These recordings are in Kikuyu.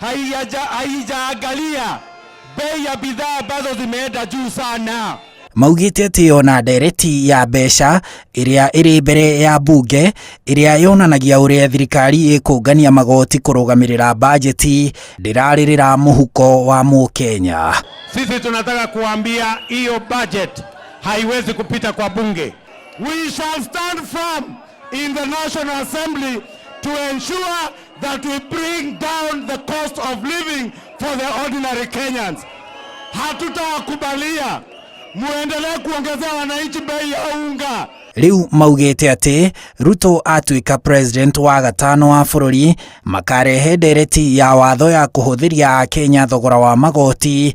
haijaja- haijaangalia bei ya bidhaa ambazo zimeenda juu sana. Maugĩte atĩ ona ndereti ya mbeca ĩrĩa ĩrĩ mbere ya mbunge ĩrĩa yonanagia ũrĩa thirikari ĩkũngania magoti kũrũgamĩrĩra bajeti ndĩrarĩrĩra mũhuko wa Mũkenya. Sisi tunataka kuambia hiyo budget haiwezi kupita kwa bunge. We shall stand firm in the National Assembly to ensure that we bring down the cost of living for the ordinary Kenyans. Hatutawakubalia muendelee kuongezea wananchi bei ya unga. Rĩu maugĩte atĩ Ruto atuĩka president wa gatano wa bũrũri makarehe ndereti ya watho ya kũhũthĩria Akenya thogora wa magoti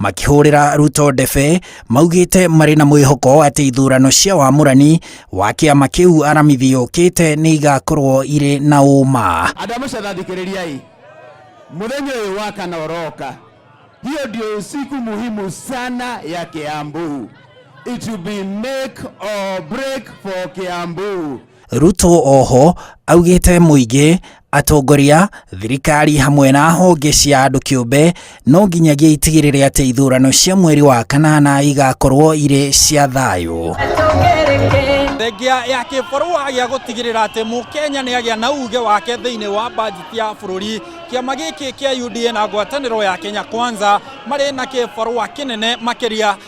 makĩhũrĩra Ruto ndebe maugĩte marĩ na mwĩhoko atĩ ithurano cia wamũrani wa kĩama kĩu aramithi yũkĩte nĩ igakorwo irĩ na ũma. Andũ a Mũcatha thikĩrĩriai, mũthenya ũyũ wa kana ũroka, hiyo ndio siku muhimu sana ya Kiambu. It will be make or break for Kiambu. Ruto oho augĩte mũingĩ atongoria, thirikari hamwe na honge cia andũ kĩũmbe no nginyagia itigĩrĩre atĩ ithurano cia mweri wa kanana igakorwo irĩ cia thayũ. Thengia ya kĩbarũa gĩa gũtigĩrĩra atĩ mũkenya nĩ agĩa na uge wake thĩinĩ wa bajeti ya bũrũri, kĩama gĩkĩ kĩa UDA na ngwatanĩro ya Kenya Kwanza marĩ na kĩbarũa kĩnene makĩria